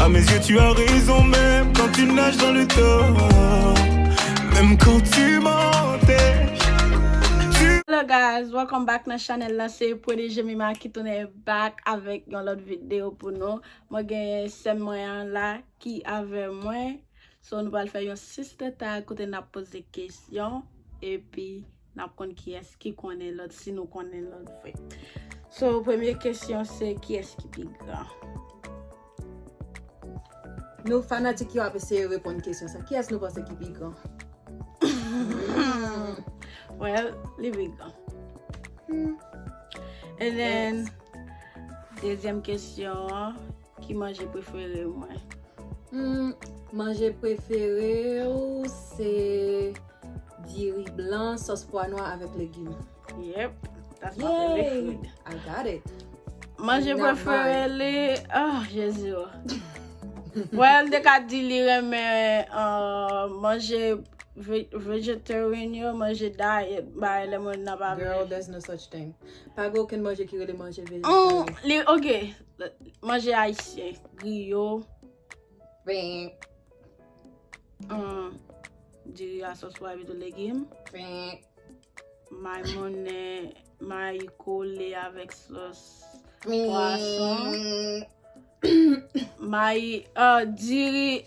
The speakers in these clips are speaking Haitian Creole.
A mes yeux tu as raison Même quand tu nages dans le tort Même quand tu m'enterres Hello guys, welcome back nan chanel la se Pwede Jemima ki tounen back avèk yon lòt video pou nou Mwen gen sèm mwen an la ki avè mwen So nou pral fè yon sister tag kote nap poze kesyon Epi Nap konn kiyes ki konnen lot si nou konnen lot vre. So premye kesyon se kiyes ki pi gran? Nou fanatik yo ap eseye reponn kesyon sa. Kiyes nou panse ki pi gran? Well, li pi gran. And then, dezyem kesyon an. Ki manje prefere ou mwen? Humm manje prefere ou se diri blan sos pwa nwa avek legim. Yep that's my favorite food. Yay I got it. Manje prefere li oh jezi oh. Well li te ka di li renmen manje vegetarian yo manje diet bagay lè moun nan pa vle. Girl there's no such thing. Pa gen okenn manje ki rele manje vegetarian. Li ok. Manje ayisyen, griyo, Pen, an, diri a sòs pwa epitou legim, pen, may mounen, may kole avèk sòs pwason, pen, may, an, diri.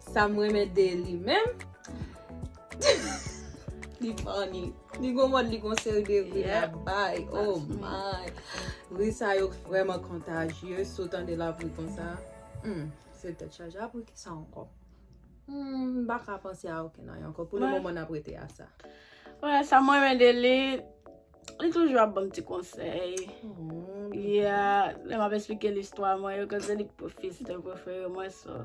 Sam renmen de li menm Li funny Li gon mod li gon seri de ri la bay Oh my Ri sa yo vreman kontajye Si w tande lap ri konsa Humm se tet chaje Apre kisa anko Humm m paka panse a okenn anyen anko Pou le moman nap rete a sa Bon sa m renmen de li Li toujou ap banm ti konsey Yeah Lè map esplike l istwa mwen yo Koz se li ki profesè prefere mwen so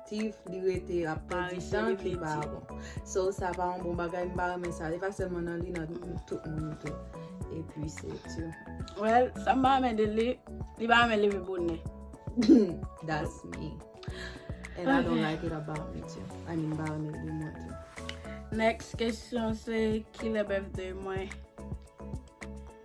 aktif, li rete ap pèdi tan ki pa bon. So sa pa yon bon bagay, m pa renmen sa. E pa sèlman nan li, nan tout moun tou. E pi se tou. Well, sa m pa renmen de li, li pa renmen leve bonè. That's me. And I don't like it about me too. I mean, m pa renmen li mwen tou. Next kesyon se, kilè birthday mwen?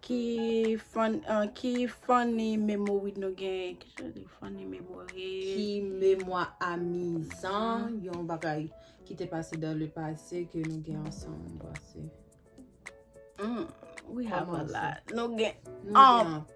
Ki funny memory nou gen? Ki memwa amizan, yon bagay ki te pase dans le passé ke nou gen ansanm? Hum, we have a lot. Nou gen anpil.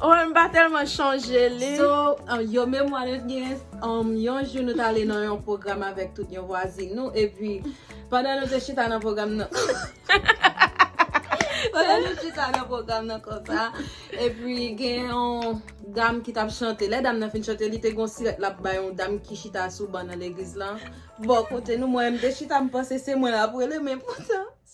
Owen m pa telman chonje li. So yo memwa nou t gen yon jou nou t ale nan yon pwogram avèk tout yon vwazin nou epi pandan nou te chita nan pwogram nan pandan nou chita nan pwogram nan konsa epi gen yon dam ki tap chante lè dam nan fin chante li te gen yon sirèt lap bay yon dam ki chita sou ban nan legliz lan bò kote nou mwen menm m te chita m panse se mwen lap rele men poutan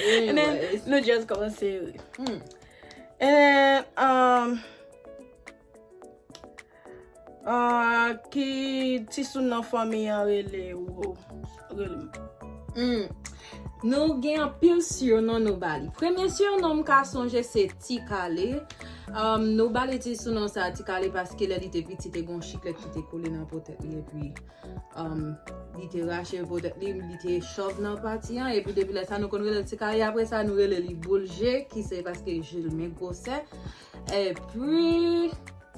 Anyways. Nou just kòmanse ri. Hmm. And, um, ah, ki tisoun nan fanmi an rele ou? Rele m. Hmm. Nou gen anpil surnom nou ba li. Premye surnom m ka sonje se Ti Kale. Um, nou ba li ti surnom sa a Ti Kale paske lè li te piti te gen yon chiklet ki te kole nan po tèt li epi Li te rache po tèt li, li te chòv nan pati an, epi depi lè sa nou konn rele l ti kaye apre sa nou rele li boul je ki se paske je l men gwosè. Epi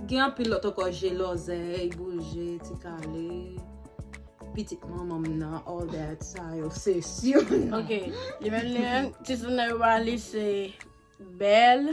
gen anpil lòt ankò je lòzèy, boul je, ti kale, pitit manman m nan, all that sa yo se si yo nan. Ok, li menm li menm, titounen yo ba li se bèl.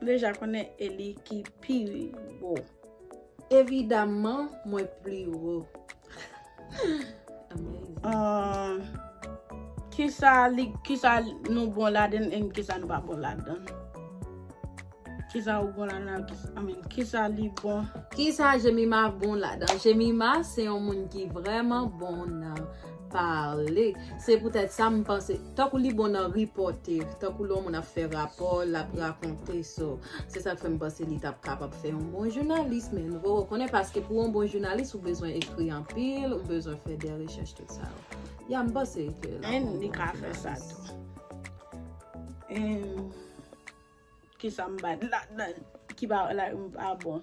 M deja konnen e li ki pi wo. Evidaman mwen pli wo. Kisa nou bon ladenn en kisa nou pa bon ladann? Kisa ou bon ladann ak kisa I mean kisa li bon? Kisa Jemima bon ladan? Jemima se yon moun ki vreman bon nan. pale se pou tèt sa m panse tankou li bon nan ripote tankou lè yon moun ap fè rapò l ap rakonte so se sak fè m panse li tap kapab fè yon bon jounalis men nou poko konnen paske pou yon bon jounalis ou bezwen ekri anpil ou bezwen fè de rechèch tout sa yo ya m panse ke lap yon bon jounalis. Li ka fè sa tou emm kisa m bat ladann ki pa la m pa bon.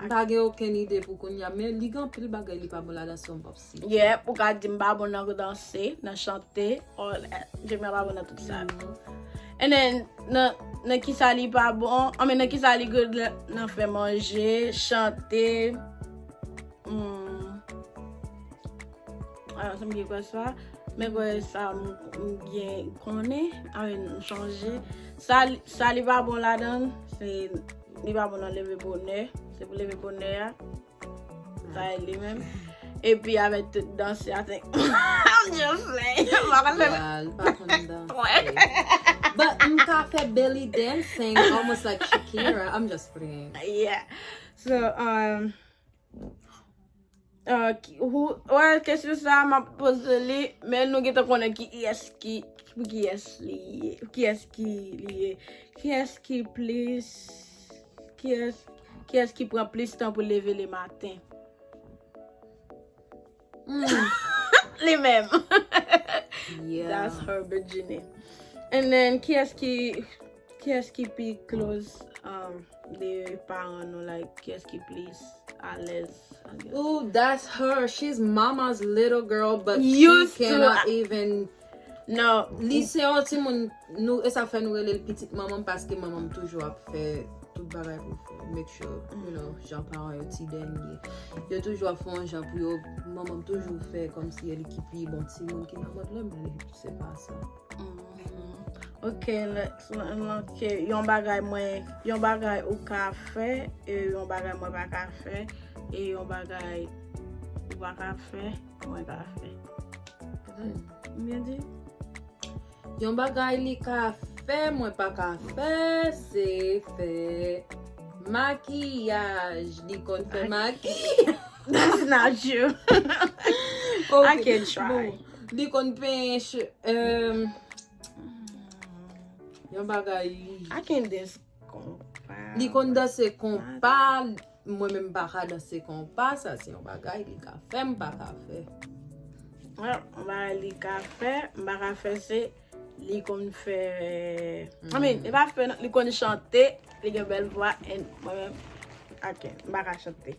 M pa gen okenn ide pou kounya men li gen anpil bagay li pa bon ladan si w m pap site. Yeah, ou ka di m pa bon nan danse, nan chante, all that. Jemmy a pa bon nan tout sa yo. And then, nan kisa li pa bon, I mean nan kisa li good la, nan fè manje, chante, hmm, ah, m gen kwè sa, men kwè sa m gen konnen, I mean, m chanje. Sa li pa bon ladan, se. Li pa bon nan leve bonè. Se pou leve bonè a. Bay li menm. E pi avè tout danse a te. Am diyo fè. Mwa pa leve. Ya, li pa kon danse. Twen. Ba, m ka fè belly dancing almost like Shakira. I'm just playing. Yeah. So, um. Well, kesyon sa a m ap poze li, men nou gentan konnen ki yès ki, pou ki yès li ye, pou ki yès ki li ye. Ki yès ki plis, ki yès, ki yès ki pran plis tan pou leve le maten? Li menm. That's her bikini. And then, kiyès ki, kiyès ki pi close um, de paran nou, like, kiyès ki plis alèz? Ooh, that's her, she's mama's little girl, but she cannot even. Non, li se yon timoun, nou, e sa fè nou rele l pitit manman m paske manman m toujou ap fè tout bagay pou make sure, you know, jan paran yo ti dènye. Yo toujou ap fè yon jan pou yo, manman m toujou fè kòmsi e li ki pi bon timoun ki nan mond lan, men li se pa sa. Ok, Lex, mwen manke yon bagay mwen, yon bagay ou ka fè, e yon bagay mwen pa ka fè, e yon bagay ou pa ka fè. Mwen pa fè. Mwen di. Yon bagay li ka fè mwen pa ka fè se fè makiyaj. Li konn fè makiyaj. That's not true. I can try. Li konn penyen che. Yon bagay li. I can dance. Li konn danse konpa, mwen menm m pa ka danse konpa, sa se yon bagay li ka fè m pa ka fè. Yon bagay li ka fè, m pa ka fè se, li konn fè, I mean, li pa fè nan, li konn chante, li gen bèl vwa and mwen menm, I can't, m pa ka chante.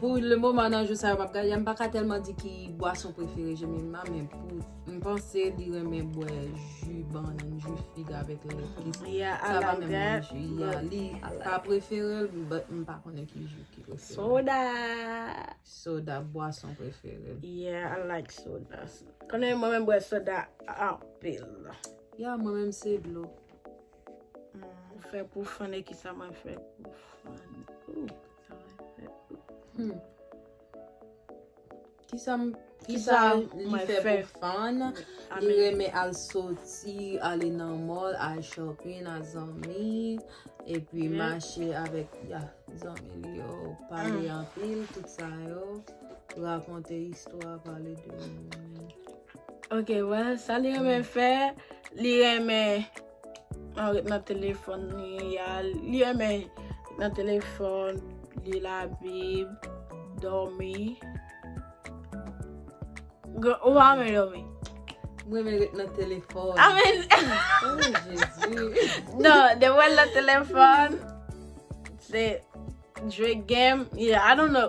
Pou le moman nan jou sa yo map gade M pa ka tèlman di ki bwason prefere Jemima Men pou m panse li renmen bwè ju bannann, ju fig avèk lèt Sa pa menm nan ju ya Li pa prefere l but m pa konnen ki ju ki prefere l Soda Soda bwason prefere l Yeah I like soda Konnen mwen menm bwè soda anpil Yeah mwen menm se dlo Mwen fè pou fan e kisa mwen fè pou fan. Kisa mwen fè pou fan. Li renmen al soti, ale nan mall, al shopping ak zanmi. E pi mache avèk zanmi li yo, pale anpil, tout sa yo. Rakonte istwa, pale de moun. Ok well sa li renmen fè li renmen an ret nan telefon li ya li renmen nan telefon li la bib domi ou pa renmen domi m renmen ret nan telefon a men oh jezi nan de wèl nan telefon se jwe game ya i don't know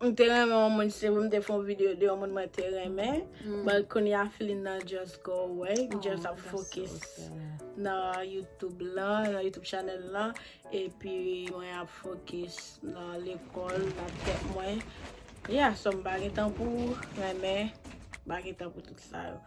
M te renmen yon moun si pou m te fè yon video de yon moun mwen te renmen but kounya feeling nan just go away m just ap fokis nan youtube lan nan youtube channel lan epi mwen ap fokis nan lekòl nan tèt mwen yeah so m pa gen tan pou renmen m pa gen tan pou tout sa yo.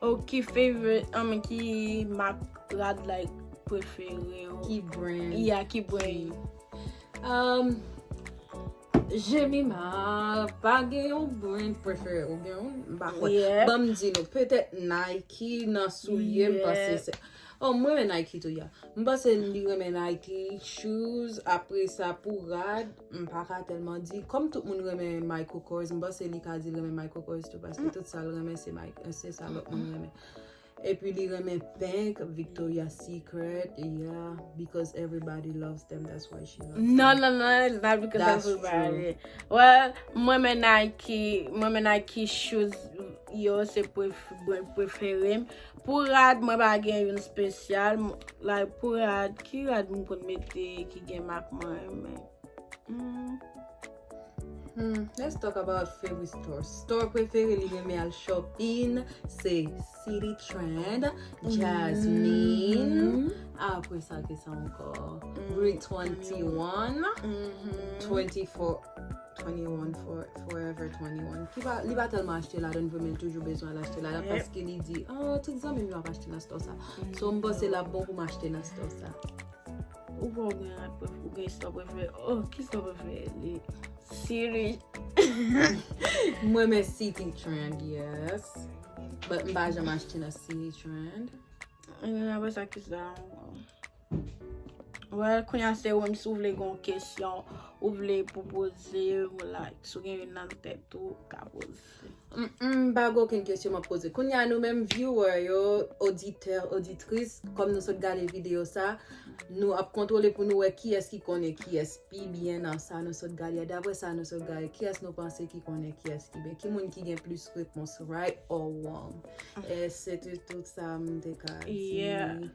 Oh ki favorite, I mean ki mak rad like prefere ou? Ki brand? Yeah, ki brand? Um, Jemima, pa gen yon brand prefere ou gen yon? M pa kwè. Yeah. Banm di nou, petèt Nike nan soulye m panse se. Yeah. Oh m renmen Nike tou ya. M panse li renmen Nike shoes apresa pou rad m paka tèlman di kòm tout moun renmen Michael Kors m panse li ka di l renmen Michael Kors tou paske tout sa l renmen se Michael se sa lòt moun renmen epi li renmen pink Victoria Secret ya because everybody loves them that's why she loves them non non non it's not because of everybody well m renmen Nike m renmen Nike shoes yo se prefere m Pou rad mwen pa gen youn spesyal. Like pou rad ki rad m konn mete ki gen mak mwen renmen. Hum let's talk about favorite store Store prefere li renmen al shopping se City Trend Jasmine Apre sa ki sa ankò Rue 21 24 21 for, forever 21. Ki pa, li pa tèlman achte la dan vre men toujou bezwen al achte la dan paske li di, ah, tout zanmi m yo ap achte nan store sa. So m panse la bon pou m achte nan store sa. Ou pa ou gen yon pref, ou gen store prefere. Oh, ki store prefere li? City. M renmen City Trend, yes. But m pa janm achte nan City Trend. Anyway, apre sa ki sa? Well kounya se ou menm si ou vle gen yon kesyon ou vle pou poze ou la si ou gen youn nan tèt ou ka poze. M pa gen okenn kesyon m ap poze. Kounya nou menm viewer yo, oditè, oditris, kòm nou sot gade videyo sa, nou ap kontwole pou nou wè kiyès ki konnen kiyès pi byen nan sa nou sot gade a. Daprè sa nou sot gade, kiyès nou panse ki konnen kiyès ki byen? Ki moun ki gen plis repons right or wrong? E se te tout sa m te ka di.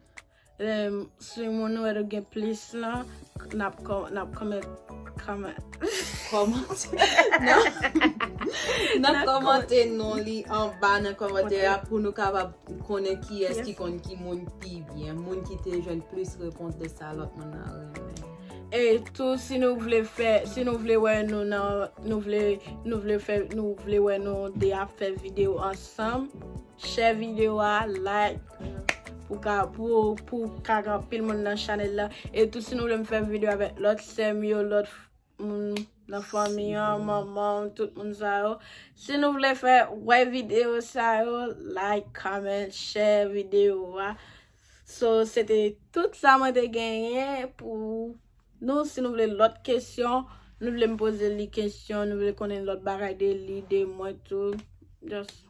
Si moun nou wè nou gen plis lan, nap kòmant. Kòmant. Nap kòmante non li anba nan kòmantè a pou nou kapab konnen kiyès ki konn ki moun pi byen. Moun ki te jwenn plis repons de sa lòt moun nan renmen. E tou si nou vle fè, si nou vle wè nou nan, nou vle, nou vle fè, nou vle wè nou 2 ap fè videyo ansanm. Share video a, like pou ka pou ka gen pil moun nan chanel la. E tou si nou vle m fè video avèk lòt sèm yo, lòt moun nan fanmi an, manman, tout moun sa yo. Si nou vle fè wè video sa yo, like, comment, share video a. So, se te tout sa mwen te genyen pou nou. Si nou vle lòt kesyon, nou vle m poze li kesyon, nou vle konnen lòt bagay de li, de mwen tou. Just.